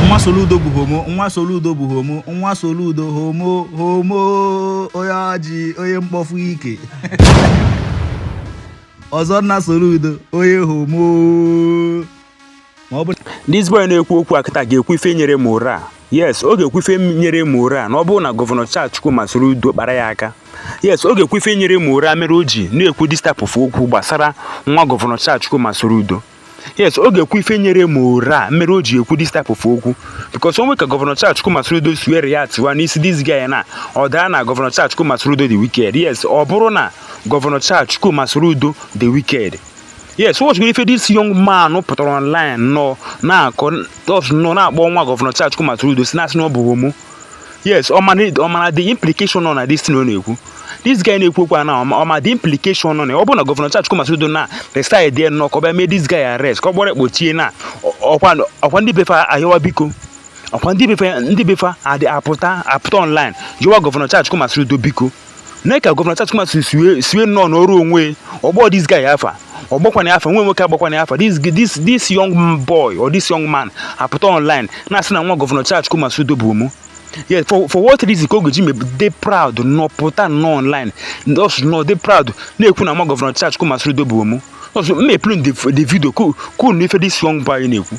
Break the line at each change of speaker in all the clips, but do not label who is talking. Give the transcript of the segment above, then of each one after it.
nwa Soludo bụ homo nwa Soludo bụ homo nwa Soludo homo homo onye ọjị onye mkpọfu ike ọzọ nwa Soludo onye homo ma
ọ bụ This boy na-ekwu okwu a kịta ga-ekwu ife nyere ya morale. yes ọ ga-ekwu ife nyere ya morale na ọ bụrụ na gọvanọ Charles Chukwuma Soludo kpara ya aka yes ọ ga-ekwu ife nyere ya morale mere o ji na-ekwu this type of okwu gbasara nwa gọvanọ Charles Chukwuma Soludo yes ọ ga-ekwu ife nyere ya morale mere o ji ekwu this type of okwu because o nwe ka gọvanọ Charles Chukwuma Soludo si wee reactiwa n'isi this guy na ọ daa na gọvanọ Charles Chukwuma Soludo dị wicked yes ọ bụrụ na gọvanọ Charles Chukwuma Soludo dị wicked yes unu watchigoro ife this young man pụtara online nọ na-akọ nọ na-akpọ nwa gọvanọ Charles Chukwuma Soludo si na-asị na ọ bụ homo yes ọ ma ọ mara the implication nọ na this thing ọ na-ekwu this guy na-ekwu okwu a na ọ ma the implication nọ na ọ bụ na gọvanọ Charles Chukwuma Soludo na decideị nnọọ ka ọ bịa mee this guy arrest ka ọ kpọrọ ya kpọchie na ọkwa ọkwa ndị be fa ayọwa biko ọkwa ndị be fa ndị be fa adị apụta apụta online yọwa gọvanọ Charles Chukwuma Soludo biko nee ka gọvanọ Charles Chukwuma Soludo si wee nnọọ nọrọ onwe ya ọ kpọ this guy afa ọ kpọkwanụ afa nwa nwoke akpọkwanụ afa this this this young boy or this young man apụta online na-asị na nwa gọvanọ Charles Chukwuma Soludo bụ homo yes for for what reason ka ọ ga-eji maybe dị proud nọ pụta nọ online just nọ dị proud na-ekwu na nwa gọvanọ Charles Chukwuma Soludo bụ homo also m eplay the video ka ka unu nụ ife this young boy na-ekwu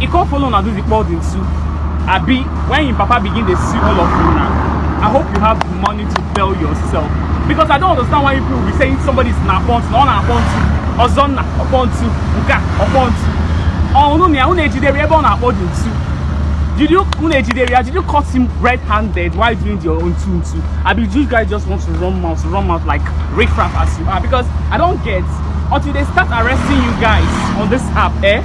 He come follow una do the clothing too. Abi, when him papa begin dey see all of you now, I hope you have the money to tell yourself. Because I don't understand why people will be saying somebody is na upon na ọ na upon to, ọzọ na upon to, nke a upon to. Ọnụ na ya, unu ejidere ebe ọ na-akpọ dị ntu. Did you unu ejidere ya? Did you cut him red-handed while doing your own two two? Abi, you guys just want to run mouth, run mouth like riffraff as you are. Because I don't get until they start arresting you guys on this app, eh?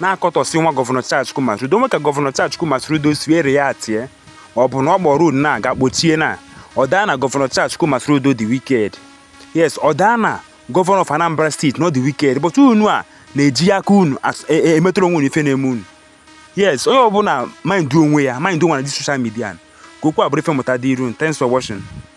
na-akọtọsị nwa gọvanọ Charles Chukwuma Soludo o nwe ka gọvanọ Charles Chukwuma Soludo si wee reactie ọ bụ na ọ kpọrọ ya ụnọ nga kpọchie na ọ daa na gọvanọ Charles Chukwuma Soludo dị wicked yes ọ daa na gọvanọ of Anambra State na ọ dị wicked but unu a na-eji aka unu emetụrụ onwe unu ife na-eme unu yes onye ọbụla mind onwe ya mind onwe na the social media ka okwu a bụrụ ife mmụta dịịrị unu thanks for watching